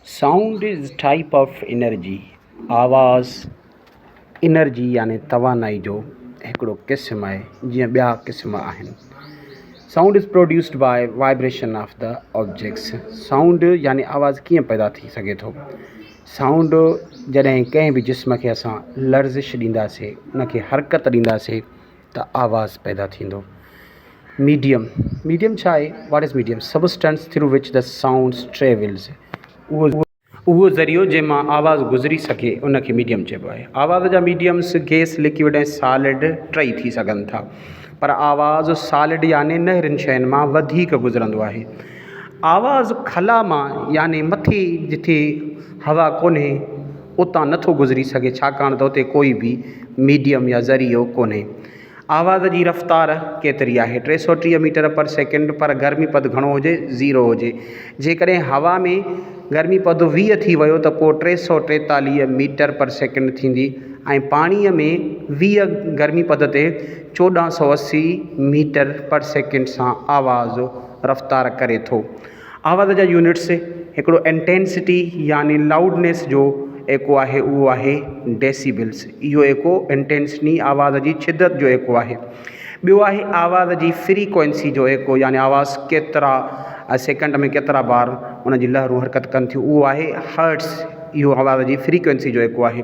Sound is type of energy، آواز energy يعني توانائي جو هڪڙو قسم آهي، جيئن ٻيا قسم آهن. Sound is produced by vibration of the objects، sound يعني آواز ڪيئن پيدا ٿي سگهي ٿو. سائونڊ جڏهن ڪنهن به جسم کي اسان لرزش ڏينداسين، ان کي حرڪت ڏينداسين. ته آواز پيدا ٿيندو. ميڊيم، ميڊيم ڇا آهي؟ What is medium? Substance through which ته سائونڊس ٽريولز، اهو ذريعو جنهن مان آواز گذري سگهي ان کي ميڊيم چئبو آهي. آواز جا ميڊيمز گئس، لڪوڊ ۽ سالڊ ٽئي ٿي سگهن ٿا پر آواز سالڊ يعني نهرين شين مان وڌيڪ گذرندو آهي. آواز خلا مان يعني مٿي جتي هوا ڪونهي، اتان نٿو گذري سگهي ڇاڪاڻ ته اتي ڪوئي به ميڊيم يا ذريعو ڪونهي. آواز جي رفتار ڪيتري آهي؟ ٽي سؤ ٽيهه ميٽر پر سيڪنڊ پر گرمي پد گهڻو هجي، زيرو هجي. جيڪڏهن هوا ۾ گرمي پد ويهه ٿي ويو ته پوء ٽي سؤ ٽيتاليهه ميٽر پر سيڪنڊ ٿيندي ۽ پاڻيء ۾ ويهه گرمي پد تي چوڏهن سؤ اسي ميٽر پر سيڪنڊ سان آواز رفتار ڪري ٿو. آواز جا يونٽس هڪڙو انٽينسٽي يعني لائوڊنيس جو ايڪو آهي اهو آهي ڊيسيبلس اهو ايڪو انٽينسٽي آواز جي شدت جو ايڪو آهي ٻيو آهي آواز جي فريڪوئنسي جو ايڪو يعني آواز ڪيترا سيڪنڊ ۾ ڪيترا بار ان جي لهرون حرڪت ڪن ٿيون اهو آهي هرٽس اهو آواز جي فريڪوئنسي جو ايڪو آهي